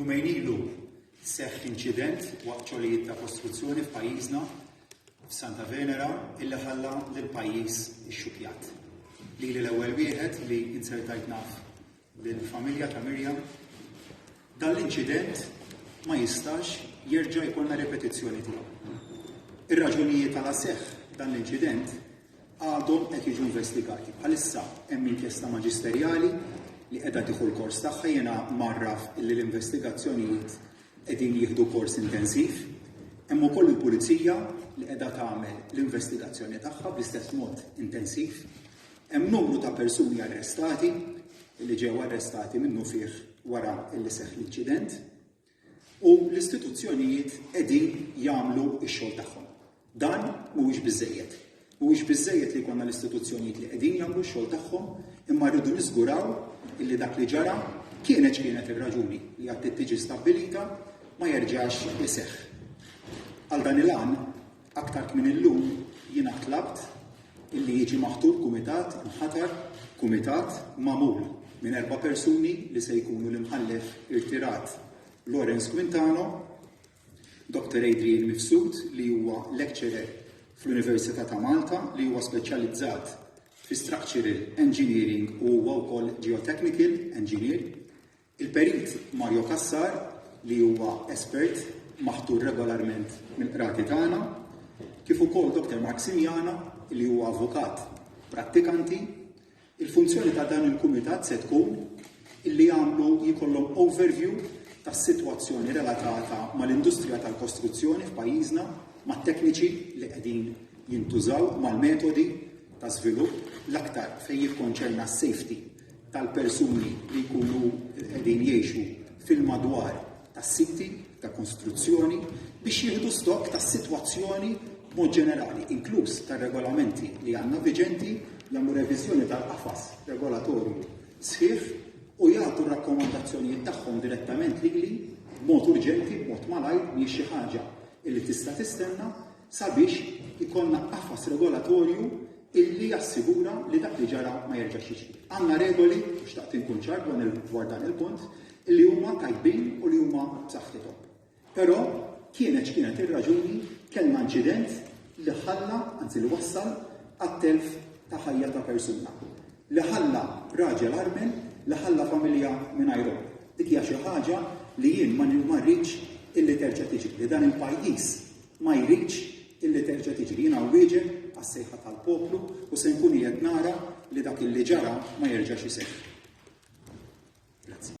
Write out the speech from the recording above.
Jumejn ilu seħħ inċident waqt xogħlijiet ta' kostruzzjoni f'pajjiżna f'Santa Venera illi ħalla lil pajjiż ixxukjat. Li l-ewwel wieħed li insertajt naf lill-familja ta' Mirjam. Dan l-inċident ma jistax jerġa' jkollna ripetizzjoni tiegħu. Ir-raġunijiet għala seħħ dan l-inċident għadhom qed jiġu investigati. Bħalissa hemm inkjesta maġisterjali li qiegħda tieħu l-kors tagħha jiena mgħarraf li l-investigazzjonijiet qegħdin jieħdu kors intensiv. Hemm ukoll il-pulizija li qiegħda tagħmel l-investigazzjoni tagħha bl-istess mod intensiv. Hemm numru ta' persuni arrestati li ġew arrestati minnu fih wara li seħħ l-inċident. U l-istituzzjonijiet qegħdin jagħmlu x-xogħol tagħhom. Dan mhuwiex biżżejjed. Mhuwiex biżżejjed li jkollna l-istituzzjonijiet li qegħdin jagħmlu x-xogħol tagħhom, imma rridu niżguraw illi dak li ġara kienet x'kienet ir-raġuni li għad tiġi stabbilita ma jerġax iseħħ. Għal dan il-għan, Aktar kmin illum jiena tlabt illi jiġi maħtur kumitat inħatar kumitat magħmul minn erba' persuni li se jkunu l-Imħallef irtirat Lawrence Quintano, Dr. Adrian Mifsud li huwa lecturer fl-Università ta' Malta li huwa speċjalizzat fi structural engineering u huwa wkoll geotechnical engineer, Il-Perit Mario Cassar, li huwa espert maħtur regolarment mill-Qrati tagħna, kif ukoll Dr. Mark Simiana, li huwa avukat prattikanti, il-funzjoni ta' dan il-kumitat se tkun illi jagħmlu jkollhom overview tas-sitwazzjoni relatata mal-industrija tal-kostruzzjoni f'pajjiżna, mat-tekniċi li qegħdin jintużaw, mal-metodi ta' żvilupp, l-aktar fejn jikkonċerna s-safety tal-persuni li jkunu qegħdin jgħixu fil-madwar tas-siti ta' konstruzzjoni biex jieħdu stokk tas-sitwazzjoni b'mod ġenerali, inkluż tar-regolamenti li għandna viġenti, jagħmlu reviżjoni tal-qafas regolatorju sħiħ u jagħtu r-rakkomandazzjonijiet tagħhom direttament lili b'mod urġenti, b'mod malajr, mhijiex xi ħaġa li tista' tistenna, sabiex ikollna qafas regolatorju illi jassigura li dak li ġara ma jerġax jiġri. Għandna regoli, u xtaqt inkun ċar dwar dan il-punt, li huma tajbin u li huma b'saħħithom. Però kienet x'kienet ir-raġuni kellna inċident li ħalla, anzi li wassal għat-telf ta' ħajja ta' persuna. Li ħalla raġel armen, li ħalla familja mingħajru. Dik hija xi ħaġa li jien ma rridx illi terġa' tiġi li dan il-pajjiż ma jridx illi terġa' tiġri. Jiena nwieġeb għas-sejħa tal-poplu u se nkun qiegħed nara li dak illi ġara ma jerġax iseħħ. Grazzi.